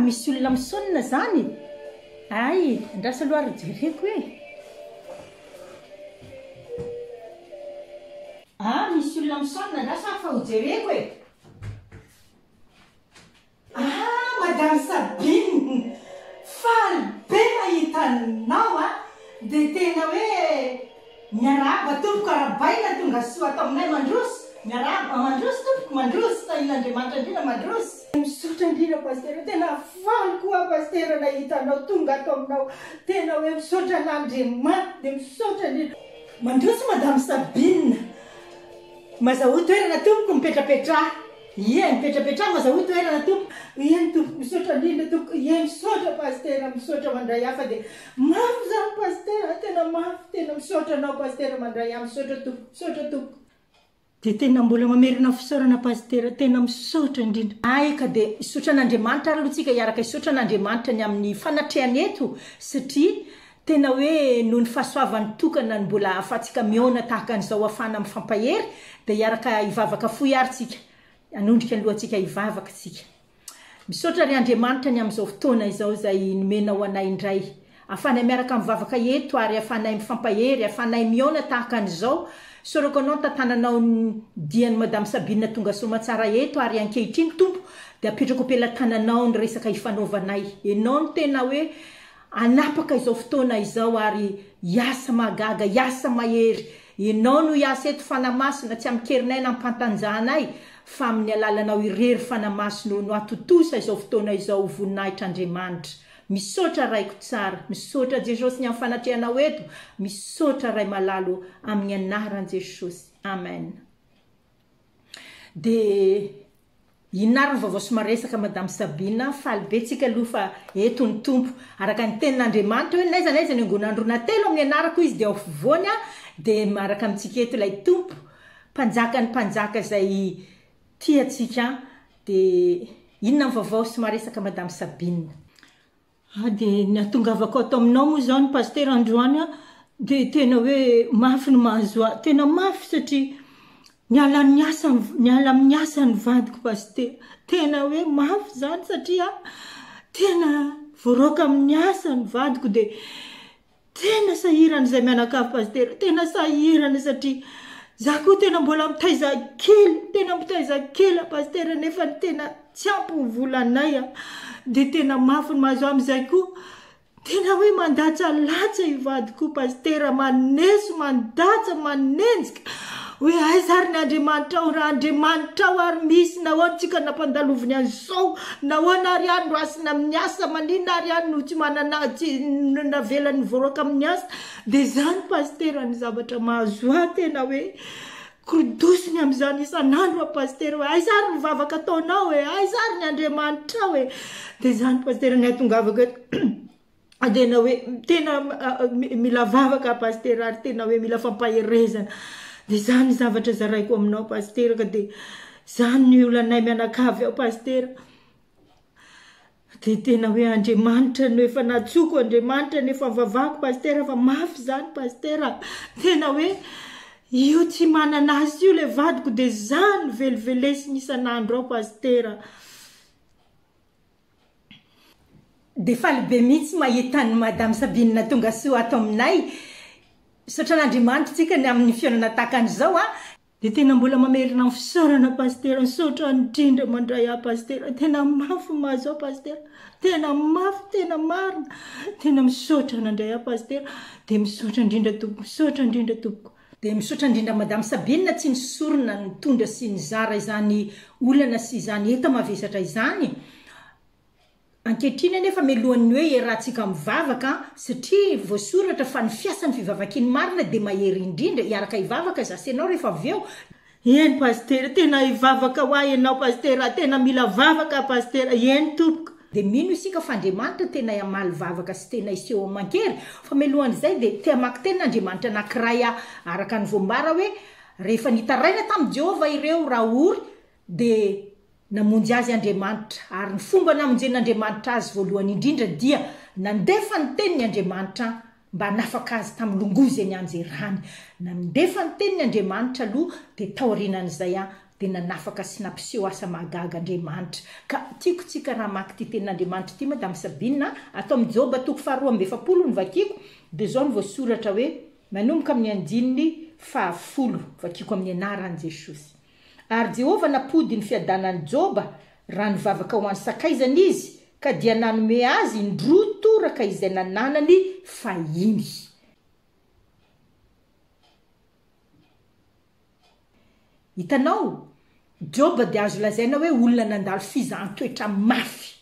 misy olona misonina zany ay andrasa aloha ry jereko e Aa misy olona misonona angaha sa fa ho jereko e! Aa madame Sabine faly be mahita anao a! dia tena hoe miarahaba tompoko arabaina tongasoa ato aminay mandroso miarahaba mandroso tompoko mandroso tahin'Andriamanitra indrindra mandroso. Misaotra indrindra Pasitera tena faly koa Pasitera nahita anao tonga ato aminao tena hoe misaotra an'Andriamanitra dia misaotra indrindra. Mandroso madame Sabine. Mazahoa toerana tompoko mipetrapetraha. Ie mipetrapetraha mazahoa toerana tompoko. Ie ny tompoko misaotra indrindra tompoko ie misaotra pasitera misaotra mandray hafa dia mafy zany pasitera tena mafy tena misaotra anao pasitera mandray ahy misaotra tompoko misaotra tompoko. Dia tena mbola mamerina fisaorana Pasitera, tena misaotra indrindra. Ay ka dia hisaotra an'Andriamanitra ary aloha tsika hiaraka hisaotra an'Andriamanitra ny amin'ny fanatrehany eto satria tena hoe noho ny fahasoavany tokana no mbola ahafahantsika mihaona tahaka an'izao hafahana mifampahery dia hiaraka hivavaka fohy ary tsika hanondrika ny lohantsika hivavaka tsika. Misaotra ry Andriamanitra ny amin'izao fotoana izao izay nomenao anay indray ahafahanay miaraka mivavaka eto ary ahafahanay mifampahery, ahafahanay mihaona tahaka an'izao. Sorako Anao ny tantananao ny dian'i Madame Sabine Tonga Soamatsara eto ary ankehitriny Tompo dia apetrako am-pelatananao ny resaka ifanaovanay. Ianao no tena hoe Hanapaka izao fotoana izao ary hiasa mahagaga, hiasa mahery. Ianao no hiasa eto Fanahy Masina, tsy amin-kerinay na am-pantanjahanay, fa amin'ny alalanao irery Fanahy Masina o, no hatontosa izao fotoana izao ho voninahitr' Andriamanitra. Misaotra Raiko tsara, misaotra Jesosy ny amin'ny fanatrehanao eto, misaotra Ray malala o, amin'ny anaran'i Jesosy, Amen. Dia inona ary ny vaovao sy maresaka madame Sabina, faly be tsika aloha fa eto ny Tompo. Araka ny tenin'Andriamanitra hoe n'aiza n'aiza ny angon'andro na telo amin'ny anarako izy dia ao afovoany aho dia miaraka amintsika eto ilay Tompo, Mpanjakan'ny mpanjaka izay tia antsika an! Dia inona ny vaovao sy maresaka madame Sabina. Ahy dia ny atongavako ato aminao moa izany Pasitera androany an, dia tena hoe mafy ny mahazo ahy, tena mafy satria niala amin'ny asa, niala amin'ny asa ny vadiko Pasitera, tena hoe mafy izany satria tena voaraoka amin'ny asa ny vadiko dia Tena sahirana izay mianakavy Pasitera, tena sahirana satria za koa tena mbola mitaiza kely, tena mitaiza kely a Pasitera nefa ny tena tsy ampy ny volanay a, dia tena mafy ny maso amin'izay koa tena hoe mandatsalatsa i vadiko io Pasitera, maneso, mandatsa, manenjika. Hoe aiza ary ny Andriamanitrao? Raha Andriamanitrao ary misy, nahoana isika nampandaloviny an'izao? Nahoana ary ihany no asina amin'ny asa? Maninona ary ihany no tsy manana, tsy, no navelany voaroaka amin'ny asa? Dia izany Pasitera ny zavatra mahazo ahy tena hoe korodosony amin'izany isan'andro aho Pasitera hoe aiza ary ny vavaka ataonao e? Aiza ary ny Andriamanitrao e? Dia izany Pasitera ny ahatongavako eto. Tena hoe tena mila vavaka pasitera ary tena hoe mila fampaherezana de zany zavatra zaraiko aminao pasitera ka de zany ny olanay mianakavy ao pasitera de tena hoe Andriamanitra no efa natsoko Andriamanitra no efa vavako pasitera fa mafy zany pasitera tena hoe io tsy manana azy io le vadiko de zany velivelesiny isan'andro ao pasitera. Dia faly be mihitsy mahita an'i Madame Sabine Tongasoa ato aminay. Misaotra an'Andriamanitra isika ny amin'ny fihaonana tahaka an'izao an! Dia tena mbola mamerina ny fisaorana Pasitera, misaotra indrindra mandray ahy Pasitera, tena mafy ny mahazo ahy Pasitera, tena mafy, tena marina, tena misaotra nandray ahy Pasitera, dia misaotra indrindra Tompoko, misaotra indrindra Tompoko. Dia misaotra indrindra Madame Sabine tsy nisorona nitondra sy nizara izany olana sy izany enta-mavesatra izany. Ankehitriny anefa mialohan'ny hoe iarahantsika mivavaka satria voasoratra fa ny fiasan'ny fivavakiany marina dia mahery indrindra, iaraka hivavaka za sy ianao rehefa avy eo Eny Pasitera tena hivavaka hoa enao Pasitera a, tena mila vavaka a Pasitera, eny tompoko. Dia mino isika fa Andriamanitra tena hamaly vavaka sy tena hiseho aman-kery, fa mialohan'izay dia te hamaky teny Andriamanitra anankiray aho, araka ny voambara hoe, rehefa nitaraina tamin'i Jehovah ireo raory dia. Namonjy azy Andriamanitra, ary ny fomba namonjen'Andriamanitra azy voalohany indrindra dia nandefa ny Teniny Andriamanitra mba hanafaka azy tamin'ny longoa izay nianjerany. Nandefa ny Teniny Andriamanitra aloha, dia taorianan'izay dia nanafaka sy nampiseho asa mahagaga Andriamanitra. Ka tiako tsika raha hamaky ity Tenin'Andriamanitra ity, Madame Sabine a, ato amin'ny Joba toko faha roa amby efapolo no vakiako, dia izao no voasoratra hoe, manomboka amin'ny andininy faha folo, vakiako amin'ny anaran'i Jesosy. Ary Jehovah nampody ny fiadanan'i Joba raha nivavaka ho an'ny sakaizany izy, ka dia nanome azy indroa toraka izay nananany fahiny. Hitanao? Joba dia azo lazaina hoe olona nandalo fizahan-toetra mafy.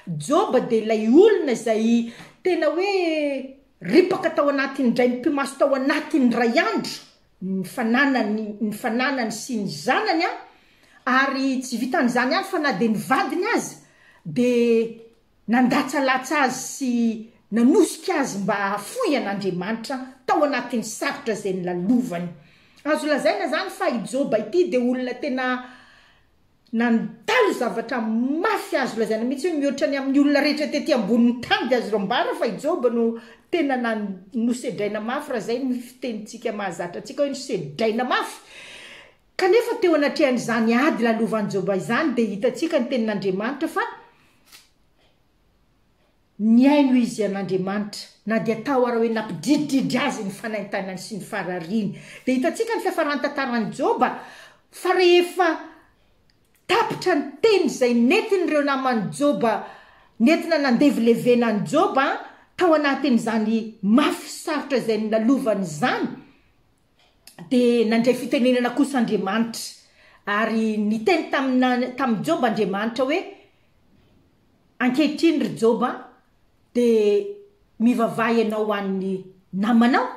Joba dia ilay olona izay tena hoe ripaka tao anatin'ny draim-pimaso tao anatin'ny iray andro, ny fananany ny fananany sy ny zanany a, ary tsy vitan'izany ihany fa na dia ny vadiny aza dia nandatsalatsa azy sy nanosika azy mba hahafoy an'Andriamanitra tao anatin'ny sarotra izay nolalovany. Azo lazaina izany fa i Joba ity dia olona tena Nandalo zavatra mafy azo lazaina mihitsy hoe mihoatra ny amin'ny olona rehetra tety ambonin'ny tany dia azo rambana fa i Joba no tena nan, nosedraina mafy raha izay ny fitenintsika mahazatra antsika hoe nosedraina mafy. Kanefa teo anatrehan'izany ady lalovan'i Joba izany dia hitantsika ny tenin'Andriamanitra fa Nihaino izy an' Andriamanitra, na dia tao ara hoe nampidridridry azy ny fanaintainany sy ny farariany. Dia hitantsika ny fiafaran'ny tantaran'i Joba, fa rehefa tapitra ny teny izay nentin'ireo naman'i Joba nentina nandevilevena an'i Joba tao anatin'izany mafy sarotra izay nilalovan'izany, Dia nandray fitenenana kosa Andriamanitra, ary niteny taminà tamin'i Joba Andriamanitra hoe, Ankehitriny, ry Joba, dia mivavaha ianao ho an'ny namanao,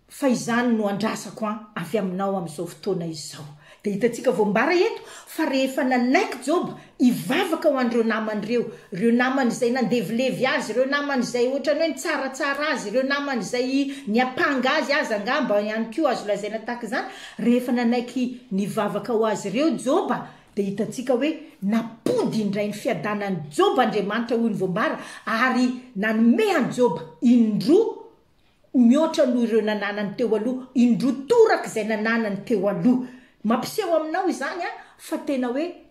fa izany no andrasako an avy aminao amin'izao fotoana izao. Dia hitantsika voambara eto fa rehefa nanaiky Joba hivavaka ho an'ireo namany ireo, ireo namany izay nandevilevy azy, ireo namany izay ohatran'ny hoe nitsaratsara azy, ireo namany izay niampanga azy aza angamba ihany koa azo lazaina tahaka izany, rehefa nanaiky nivavaka ho azy ireo Joba, dia hitantsika hoe nampody indray ny fiadanan'i Joba Andriamanitra hoy ny voambara ary nanome an'i Joba indroa ho mihoatra noho ireo nananany teo aloha, indroa toraka izay nananany teo aloha. Mampiseho aminao izany fa tena hoe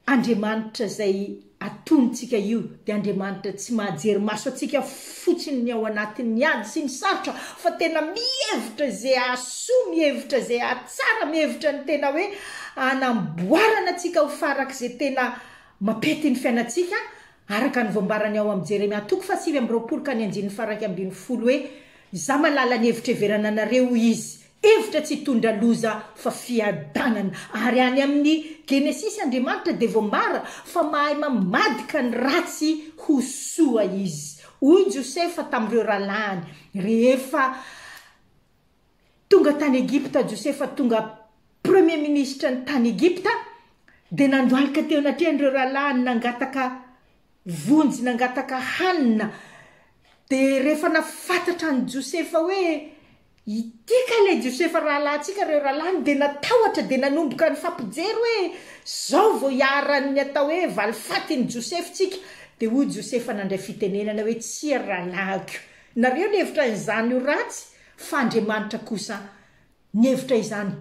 Andriamanitra izay atonontsika io dia Andriamanitra tsy mahajery maso antsika fotsiny ny ao anatin'ny ady sy ny sarotra fa tena mihevitra izay hahasoa, mihevitra izay hahatsara, mihevitra ny tena hoe hanamboarana antsika ho farak'izay tena mampety ny fiainantsika Araka ny voambarany ao amin'ny Jeremia toko fahasivy amby roapolo ka ny andininy faharaika ambin'ny folo hoe, Izaho mahalala ny hevitra hiheverana anareo, hoy Izy, hevitra tsy hitondra loza fa fiadanana. Ary any amin'ny Genesisy Andriamanitra dia voambara fa mahay mamadika ny ratsy ho soa Izy. Hoy Josefa tamin'ireo rahalahiny rehefa. Tonga tany Egypta Josefa tonga Premier Ministra ny tany Egypta dia nandohalika teo anatrehan'ireo rahalahiny nangataka vonjy nangataka hanina dia rehefa nafantatra an'i Josefa hoe ity kay ilay Josefa rahalahintsika ireo rahalahiny dia natahotra dia nanomboka nifampijery hoe zao vao hiaharan'ny atao hoe valifaty ny Josefy tsika dia hoy Josefa nandray fitenenana hoe tsia ry rahalahiko nareo ny hevitra an'izany ho ratsy Fa Andriamanitra kosa nihevitra izany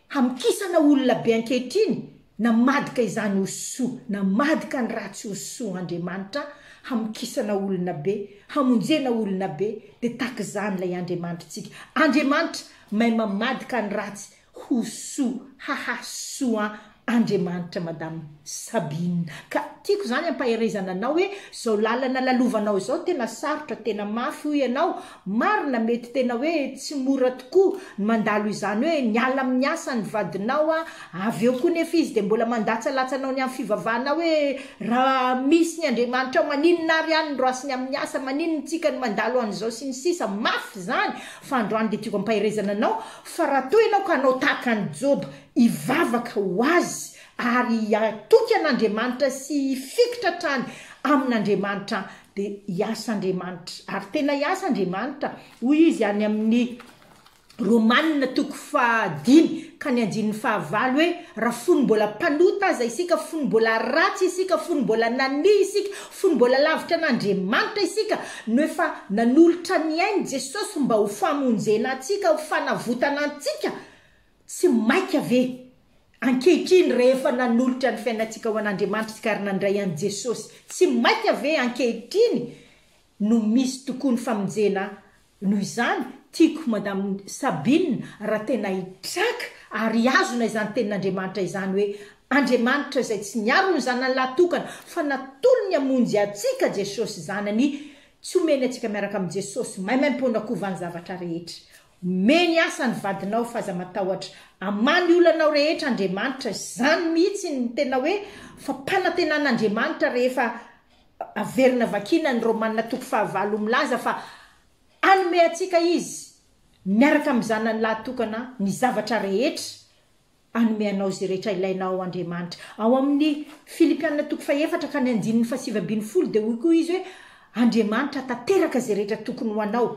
hamokisana olona be ankehitriny, namadika izany ho soa, namadika ny ratsy ho soa Andriamanitra hamokisana olona be, hamonjena olona be, dia tahaka izany ilay Andriamanitritsika. Andriamanitra mahay mamadika ny ratsy Koso, haha soa an Andriamanitra madame Sabine ka tiako zany ampaherezana anao hoe zao lalana lalovanao zao tena sarotra tena mafy hoy ianao marina mety tena hoe tsy mora tokoa ny mandalo izany hoe miala amin'ny asa ny vadinao an avy eo koa nefa izy dia mbola mandatsalatsa anao ny amin'ny fivavahana hoe raha misy ny Andriamanitrao maninona ary any ny roasiny amin'ny asa maninona tsika no mandalo an'izao sy ny sisa mafy zany fa androany dia tiako ampaherezana anao Fa raha toa ianao ka hanao tahaka an'i Joba, hivavaka ho Azy ary hatoky an'Andriamanitra sy hifikitra hatrany amin'Andriamanitra, dia hiasa Andriamanitra, ary tena hiasa Andriamanitra, hoy Izy any amin'ny Romana toko faha dimy ka ny andininy faha valo hoe, Raha fony mbola mpanota aza isika, fony mbola ratsy isika, fony mbola nania isika, Fony mbola lavitra an'Andriamanitra isika no efa nanolotra ny ainy Jesosy mba ho famonjena antsika, ho fanavotana antsika, tsy maika ve ankehitriny rehefa nanolotra ny fiainantsika ho an'Andriamanitra isika ary nandray an'i Jesosy, tsy maika ve ankehitriny no misy tokoa ny famonjena Noho izany, tiako Madame Sabine raha tena hitraka ary hihazona izany tenin'Andriamanitra izany hoe Andriamanitra izay tsy niaro ny zanany lahy tokana fa natolony hamonjy antsika Jesosy Zanany tsy omeny antsika miaraka amin'i Jesosy maimaim-poana kovan'ny zavatra rehetra omeny asa ny vadinao f'aza matahotra aman ny olanao rehetra Andriamanitra izany mihitsy ny tena hoe fampanantenan'Andriamanitra rehefa Averina vakiana ny Romana toko fahavalo milaza fa hanome antsika Izy miaraka amin'ny Zanany lahatokana ny zavatra rehetra. Hanome anao izay rehetra ilainao Andriamanitra. Ao amin'ny Filipiana toko fahefatra ka ny andininy fahasivy ambin'ny folo dia hoy koa Izy hoe, Andriamanitra tanteraka izay rehetra tokony ho anao,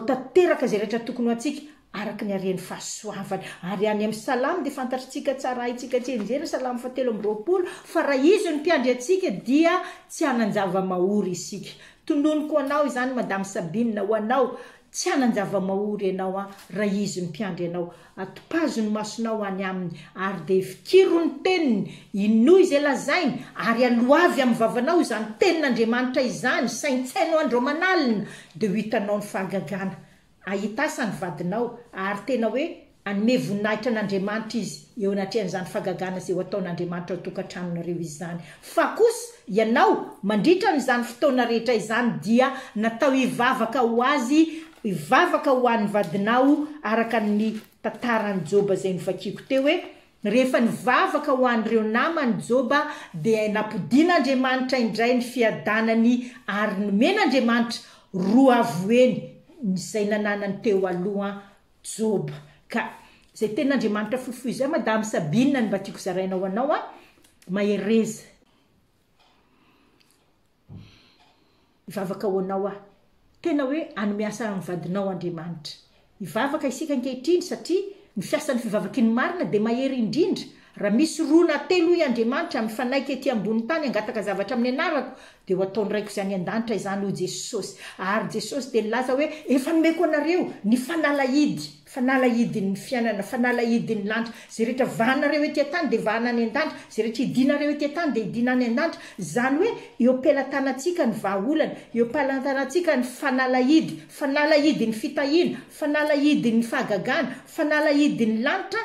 tanteraka izay rehetra tokony ho antsika, araka ny haren'ny fahasoavany. Ary any amin'ny Salamo dia fantatritsika tsara, haintsika tsy enjehina, Salamo faha telo amby roapolo, fa raha Izy no Mpiandry antsika dia tsy hanan-java-mahory isika. Tononiko ho anao izany Madame Sabine, ho anao, tsy hanan-java-mahory ianao an, raha Izy no Mpiandry anao. Atopazo ny masonao any Aminy, ary dia fikiro ny Teniny, inoa izay lazainy, ary aloavy amin'ny vavanao izany Tenin'Andriamanitra izany, saintsaino andro aman'alina, dia ho hitanao ny fahagagana. Hahita asa ny vadinao, ary tena hoe hanome voninahitra an'Andriamanitra izy eo anatrehan'izany fagagana izay ho ataon'Andriamanitra ao an-tokantranonareo izany. Fa kosa ianao, mandritra an'izany fotoana rehetra izany, dia natao hivavaka ho azy, hivavaka ho an'ny vadinao, araka ny tantaran'i Joba izay novakiako teo hoe Rehefa nivavaka ho an'ireo namany Joba dia nampodian'Andriamanitra indray ny fiadanany ary nomen'Andriamanitra roa avo heny izay nananany teo aloha Joba ka izay tenin'Andriamanitra fohifohy izay Madame Sabine no mba tiako zaraina ho anao a! Mahereza. Hivavaka ho anao aho. Tena hoe hanome asa amin'ny vadinao Andriamanitra. Hivavaka isika ankehitriny satria ny fiasan'ny fivavakin'ny marina dia mahery indrindra. Raha misy roa na telo hoy Andriamanitra mifanaiky ety ambony tany hangataka zavatra amin'ny anarako dia ho ataony raiko izany an-danitra izany hoy Jesosy. Ary Jesosy dia nilaza hoe efa nomeko anareo ny fanalahidy. Fanalahidin'ny fiainana, fanalahidin'ny lanitra, izay rehetra vahanareo ety an-tany dia vahana any an-danitra, izay rehetra idinareo ety an-tany dia idina any an-danitra, izany hoe eo am-pelatanantsika ny vahaolana, eo am-pelatanantsika ny fanalahidy, fanalahidin'ny fitahiana, fanalahidin'ny fahagagana, fanalahidin'ny lanitra,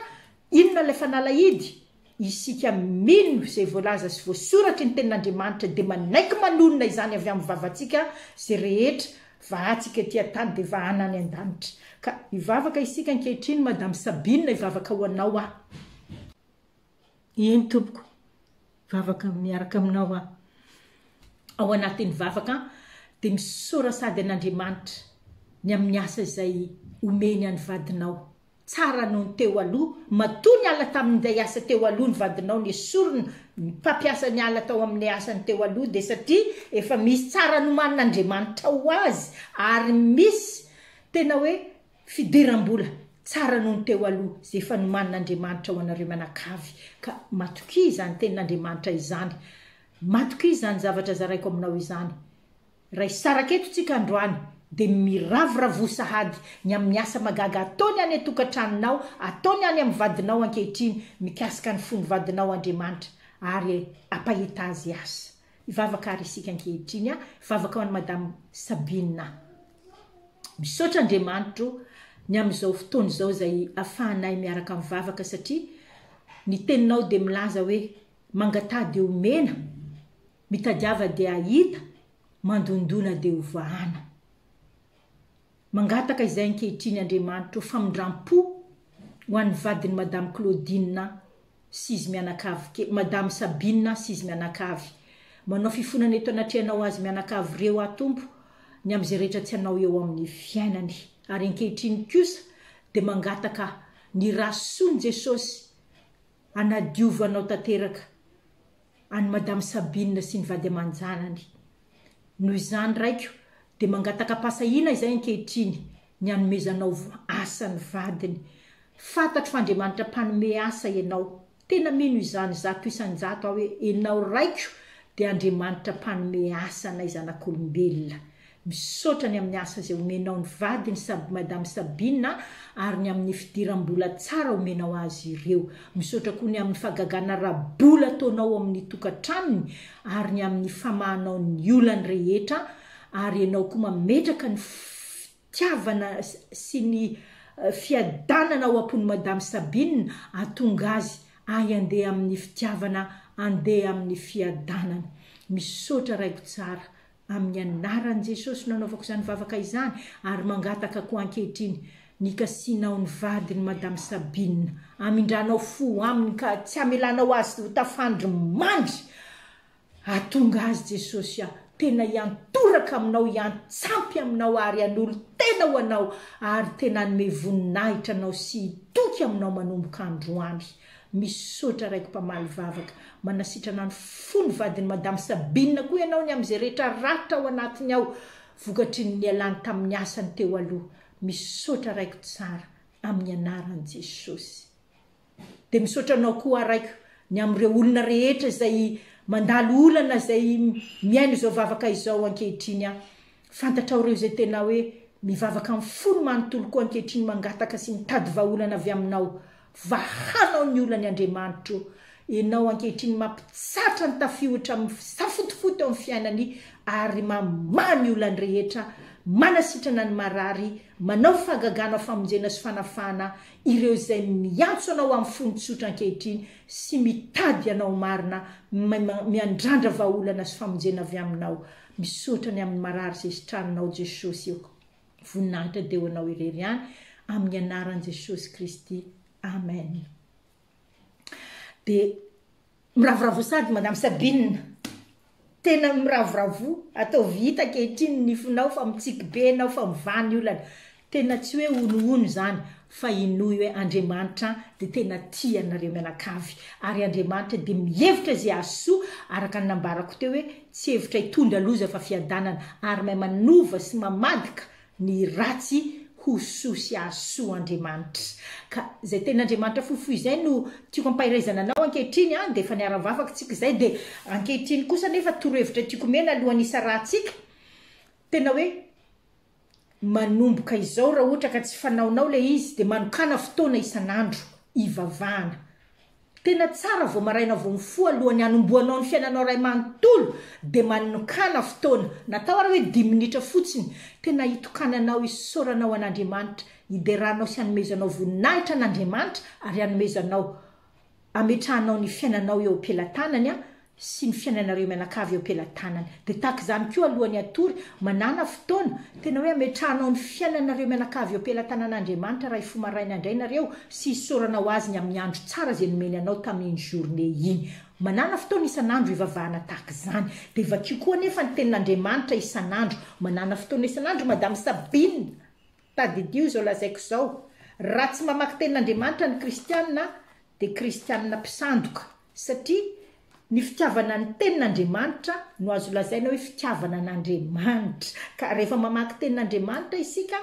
inona ilay fanalahidy? Isika mino izay voalaza sy voasoratry ny Tenin'Andriamanitra dia manaiky manonona izany avy amin'ny vavantsika izay rehetra vahantsika ety an-tany dia vahana any an-danitra. Ka hivavaka isika ankehitriny Madame Sabine hivavaka ho anao aho. Eny tompoko, vavaka miaraka aminao aho. Ao anatin'ny vavaka dia misaora sady an'Andriamanitra ny amin'ny asa izay omeny an'ny vadinao. Tsara noho ny teo aloha, matoa niala tamin'inday asa teo aloha ny vadinao nesorina ny mpampiasa niala tao amin'ilay asany teo aloha dia satria efa misy tsara nomanin'Andriamanitra ho azy ary misy tena hoe fidiram-bola tsara noho ny teo aloha izay efa nomanin'Andriamanitra ho anareo mianakavy ka matokia izany tenin'Andriamanitra izany matokia izany zavatra zaraiko aminao izany Raha hisaraka eto tsika androany dia miravoravoa sahady ny amin'ny asa magaga ataony any an-tokantranonao, ataony any amin'ny vadinao ankehitriny mikasika ny fon'ny vadinao Andriamanitra ary ampahita azy asa. Hivavaka ary isika ankehitriny a! Hivavaka ho an'i Madame Sabine a! Misaotra Andriamanitro ny amin'izao fotoana izao izay afahanay miaraka mivavaka satria ny teninao dia milaza hoe mangataha dia omena, Mitadiava dia hahita, mandondona dia ho vahana. Mangataka izay ankehitriny Andriamanitro famindram-po ho an'ny vadin'i Madame Claudine sy izy mianakavy kely, Madame Sabine sy izy mianakavy. Manao fifonana eto anatrehanao ho azy mianakavy ireo aho Tompo ny amin'izay rehetra tsy anao eo amin'ny fiainany. Ary ankehitriny kosa dia mangataka ny ra son'i Jesosy hanadiova anao tanteraka. an'i madame Sabine sy ny vady aman-janany. Noho izany raiko dia mangatakam-pahasahiana izay ankehitriny ny anomezanao asa ny vadiny. Fantatro fa Andriamanitra mpanome asa ianao. Tena mino izany zato isan-jato aho hoe enao raiko dia Andriamanitra mpanome asa anay zanak'olombelona. Misaotra ny amin'ny asa izay omenao ny vadiny sab madame Sabine a, ary ny amin'ny fidiram-bola tsara omenao azy ireo. Misaotra koa ny amin'ny fagagana ara-bola ataonao ao amin'ny tokantranony ary ny amin'ny famahanao ny olany rehetra ary ianao koa mametraka ny fitiavana sy ny fiadanana ao am-pon'i madame Sabine atonga azy ahy andeha amin'ny fitiavana andeha amin'ny fiadanana. Misaotra raiko tsara. Amin'ny anaran'i Jesosy no anaovako izany vavaka izany ary mangataka koa ankehitriny ny kasianao ny vadin'i Madame Sabine. Amindranao fo aminy ka tsy hamelanao azy ho tafandry mandry. Atonga azy Jesosy ah, tena hiantoraka aminao, hiantsampy aminao ary hanolo-tena ho anao ary tena hanome voninahitra anao sy hitoky aminao manomboka androany. Misaotra raiko mpamaly vavaka, manasitrana ny fo ny vadin'i Madame Sabine koa ianao ny amin'izay rehetra ratra ao anatiny ao vokatry ny nialany tamin'ny asany teo aloha, misaotra raiko tsara amin'ny anaran'i Jesosy. Dia misaotra anao koa aho raiko ny amin'ireo olona rehetra izay mandalo olana izay mihaino izao vavaka izao ankehitriny aho, Fantatrao ireo izay tena hoe mivavaka amin'ny fony manontolo koa ankehitriny mangataka sy mitady vahaolana avy aminao. Vahanao ny olany Andriamanitro. Ianao ankehitriny mampitsatra ny tafiotra amin'ny fisafotofoto eo amin'ny fiainany ary mamaha ny olany rehetra, manasitrana ny marary, manao fahagagana famonjena sy fanafahana ireo izay miantso anao amin'ny fony tsotra ankehitriny sy mitady anao marina, miandrandra vahaolana sy famonjena avy aminao. Misaotra ny amin'ny marary zesitranonao Jesosy ok voninahitra dia ho anao irery ihany amin'ny anaran'i Jesosy Kristy Amen dia miravoravoa sady madame Sabine tena miravoravoa ataovy hita ankehitriny ny fonao fa mitsiky be ianao fa mivaha ny olana Tena tsy hoe honohono izany fa hinoy hoe Andriamanitra dia tena tia anareo mianakavy ary Andriamanitra dia mihevitra izay azo soa araka ny nambarako teo hoe tsy hevitra hitondra loza fa fiadanana ary mahay manova sy mamadika ny ratsy ho soa sy azo soa Andriamanitra ka izay tena Andriamanitra fohifohy izay no tiako ampahiraizana anao ankehitriny an dia efa niara-nivavaka tsika izay dia ankehitriny kosa nefa torohevitra tiako omena alohan'ny hisarahantsika tena hoe Manomboka izao raha ohatra ka tsy fanaonao ilay izy dia manokàna fotoana isan'andro ivavahana. Tena tsara vao maraina vao mifoha alohan'ny hanombohanao ny fiainanao iray manontolo dia manokàna fotoana, na atao ary hoe dimy minitra fotsiny, tena hitokananao isaoranao an'Andriamanitra, hideranao sy hanomezanao voninahitra an'Andriamanitra ary hanomezanao ametrahanao ny fiainanao eo am-pelatanany an, sy ny fiainanareo mianakavy eo am-pelatanany. Dia tahaka izany koa aloha ny hatory, manàna fotoana, tena hoe ametrahanao ny fiainanareo mianakavy eo am-pelatanan'Andriamanitra Ray fo maraina indray nareo sy isaorana ho Azy ny amin'ny andro tsara izay nomeny anao tamin'iny journée iny. Manàna fotoana isan'andro hivavahana tahaka izany. Dia vakio koa anefa ny Tenin'Andriamanitra isan'andro. Manàna fotoana isan'andro Madame Sabine! Tadidio izao lazaiko izao, raha tsy mamaky tenin'Andriamanitra ny kristiana dia kristiana mpisandoka, satria ny fitiavana ny tenin'Andriamanitra no azo lazaina hoe fitiavana an'Andriamanitra, ka rehefa mamaky tenin'Andriamanitra isika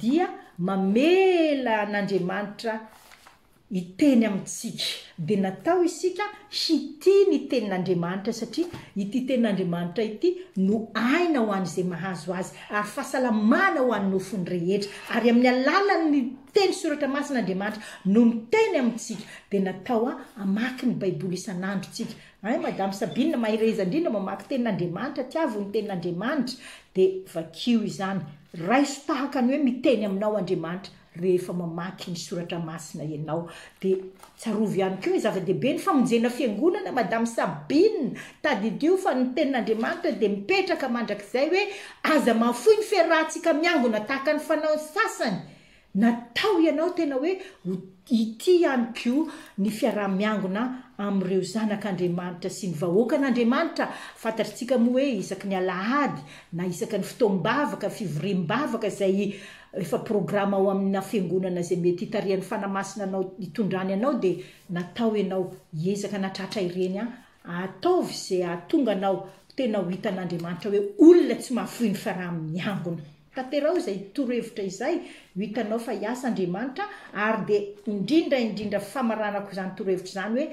dia mamela an'Andriamanitra Hiteny amintsika. Dia natao isika hitia ny Tenin'Andriamanitra satria ity Tenin'Andriamanitra ity no aina ho an'izay mahazo azy ary fahasalamana ho an'ny nofony rehetra. Ary amin'ny alalan'ny teny soratra masina Andriamanitra no miteny amintsika. Dia natao hamaky ny Baiboly isan'andro isika. Hay Madame Sabine mahereza indrindra mamaky Tenin'Andriamanitra, tiavo ny Tenin'Andriamanitra dia vakio izany. Raiso tahaka ny hoe miteny aminao Andriamanitra. Rehefa mamaky ny soratra masina ianao dia tsarovy ihany koa hoe zava-dehibe ny famonjena fiangonana madame Sabine, tadidio fa ny tenin'Andriamanitra dia mipetraka mandrakizay hoe aza mahafoy ny fiarahantsika miangona tahaka ny fanaon'ny sasany, natao ianao tena hoe ho hitia ihany koa ny fiaraha-miangona amin'ireo zanak'Andriamanitra sy ny vahoakan'Andriamanitra, fantatritsika moa hoe isaky ny alahady na isaky ny fotoam-bavaka, fivoriam-bavaka izay Rehefa programa ao amina fiangonana izay mety hitarihan'ny Fanahy Masina anao hitondrany anao dia natao ianao hiezaka hanatratra ireny an! Ataovy izay hahatonga anao tena ho hitan'Andriamanitra hoe olona tsy mahafoy ny faraha miangona. Tanteraho izay torohevitra izay ho hitanao fa hiasa Andriamanitra ary dia indrindra indrindra famaranako izany torohevitra izany hoe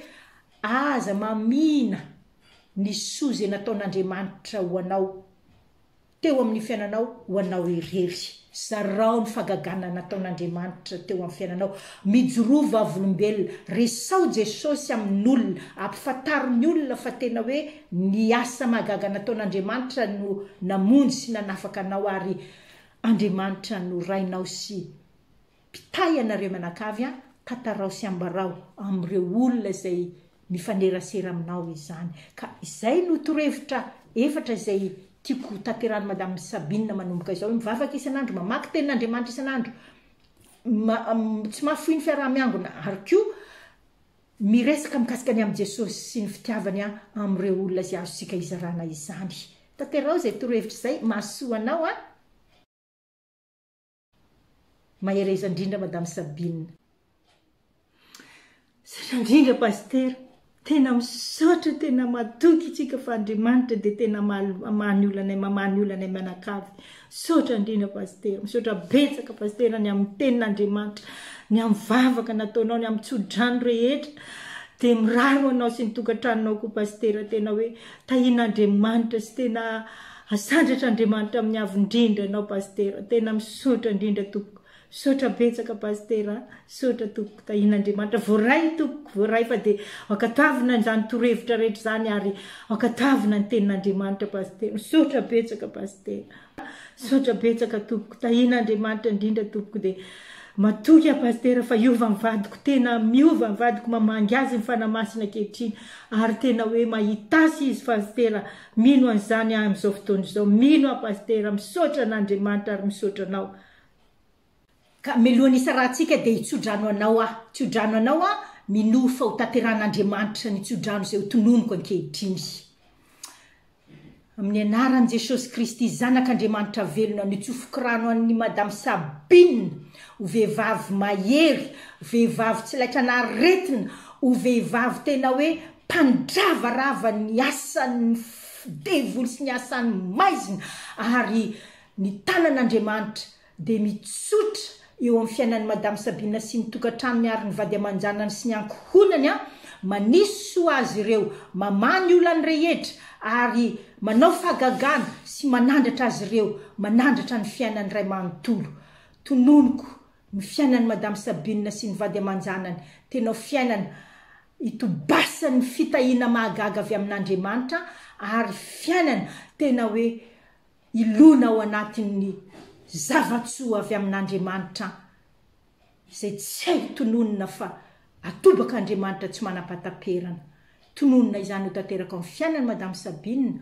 aza mamihina ny soa izay nataon'Andriamanitra ho anao teo amin'ny fiainanao ho anao irery. Zarao ny fahagagana nataon'Andriamanitra teo amin'ny fiainanao. Mijoroa vavolombelona. Resaho Jesosy amin'olona. Ampifantaro ny olona fa tena hoe ny asa mahagaga nataon'Andriamanitra no namonjy sy nanafaka anao ary Andriamanitra no Rainao sy Mpitahy ianareo mianakavy an, tantarao sy ambarao amin'ireo olona izay mifanerasera aminao izany. Ka izay no torohevitra efatra izay tiako ho tanterahin'i Madame Sabine manomboka izao, mivavaka isan'andro, mamaky tenin'Andriamanitra isan'andro, tsy mahafoy ny fiaraha-miangona, ary koa miresaka mikasika ny amin'i Jesosy sy ny fitiavany amin'ireo olona izay azontsika izarana izany. Tanterao izay torohevitra izay, mahasoa anao an! Mahereza indrindra Madame Sabine. Misaotra indrindra Pasitera. Tena misaotra, tena matoky itsika fa Andriamanitra dia tena mamaha ny olanay, mamaha ny olanay mianakavy. Misaotra indrindra Pasitera. Misaotra betsaka Pasitera ny amin'ny tenin'Andriamanitra, ny amin'ny vavaka nataonao, ny amin'ny tsodrano rehetra. Dia mirary ho anao sy ny tokantranonao koa Pasitera tena hoe tahian'Andriamanitra sy tena Asandratra Andriamanitra miavo indrindra anao Pasitera tena misaotra indrindra tompoko misaotra betsaka Pasitera a misaotra tompoko tahin'Andriamanitra voaray tompoko voaray fa dia ankatoavina izany torohevitra rehetra izany ary ankatoavina ny tenin'Andriamanitra Pasitera misaotra betsaka Pasitera a misaotra betsaka tompoko tahin'Andriamanitra indrindra tompoko dia matoky aho Pasitera fa hiova ny vadiko tena miova ny vadiko mamangy azy ny Fanahy Masina ankehitriny ary tena hoe mahitasy izy Pasitera Mino an'izany aho amin'izao fotoana izao. Mino aho Pasitera. Misaotra an'Andriamanitra ary misaotra anao. Ka mialohan'ny hisarahantsika dia hitsodrano anao aho. Tsiodrano anao aho, minoa fa ho tanterahan'Andriamanitra ny tsiodrano izay ho tononiko ankehitriny. Amin'ny anaran'i Jesosy Kristy, Zanak'Andriamanitra velona, nitsofoko rano an'i Madame Sabine ho vehivavy mahery, vehivavy tsy laitran'aretina, ho vehivavy tena hoe Mpandravarava ny asan'ny devoly sy ny asan'ny maizina, ary ny tanan'Andriamanitra dia mitsotra eo amin'ny fiainan'i Madame Sabina sy ny tokantranony ary ny vady aman-janany sy ny ankohonany an, manisy soa azy ireo, mamaha ny olany rehetra ary manao fahagagana sy manandratra azy ireo, manandratra ny fiainany iray manontolo. Tononiko Ny fiainan'i Madame Sabine sy ny vady aman-janany tena fiainana itobasan'ny fitahiana mahagaga avy amin'Andriamanitra ary fiainana tena hoe ilona ao anatin'ny zava-tsoa avy amin'Andriamanitra izay tsy hay tononina fa atobak'Andriamanitra tsy manam-pahataperana. Tononina izany ho tanteraka amin'ny fiainan'i Madame Sabine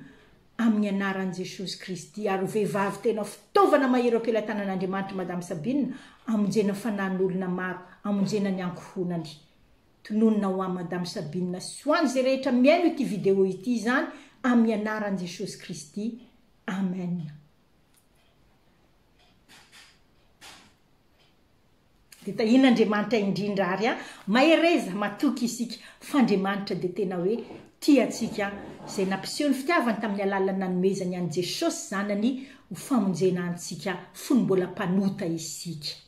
amin'ny anaran'i Jesosy Kristy ary ho vehivavy tena fitaovana mahery ao am-pelatanan'Andriamanitra Madame Sabine hamonjena fanan'olona maro, hamonjena ny ankohonany. Tononina ho an'i Madame Sabine sy ho an'izay rehetra mihaino ity video ity izany amin'ny anaran'i Jesosy Kristy. Amen. Dia tahian' Andriamanitra indrindra ary an! Mahereza, matoky isika, fa Andriamanitra dia tena hoe tia antsika, izay nampiseho ny fitiavany tamin'ny alalan'ny nanomezany an'i Jesosy Zanany ho famonjena antsika fony mbola mpanota isika.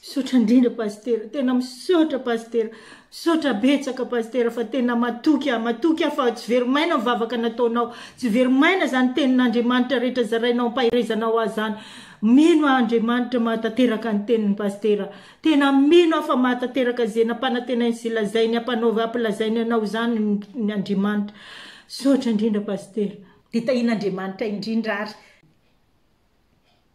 Misaotra indrindra Pasitera, tena misaotra Pasitera, misaotra betsaka Pasitera fa tena matoky aho, matoky aho fa tsy very maina ny vavaka nataonao, tsy very maina izany tenin'Andriamanitra rehetra zarainao ampaherezanao ahy izany, Mino aho Andriamanitra mahatanteraka ny tenin'i Pasitera. Tena mino aho fa mahatanteraka izay nampanantenainy sy lazainy hampanaovy hampilazainy anao izany ny Andriamanitra. Misaotra indrindra Pasitera. Dia tahian'Andriamanitra indrindra ary.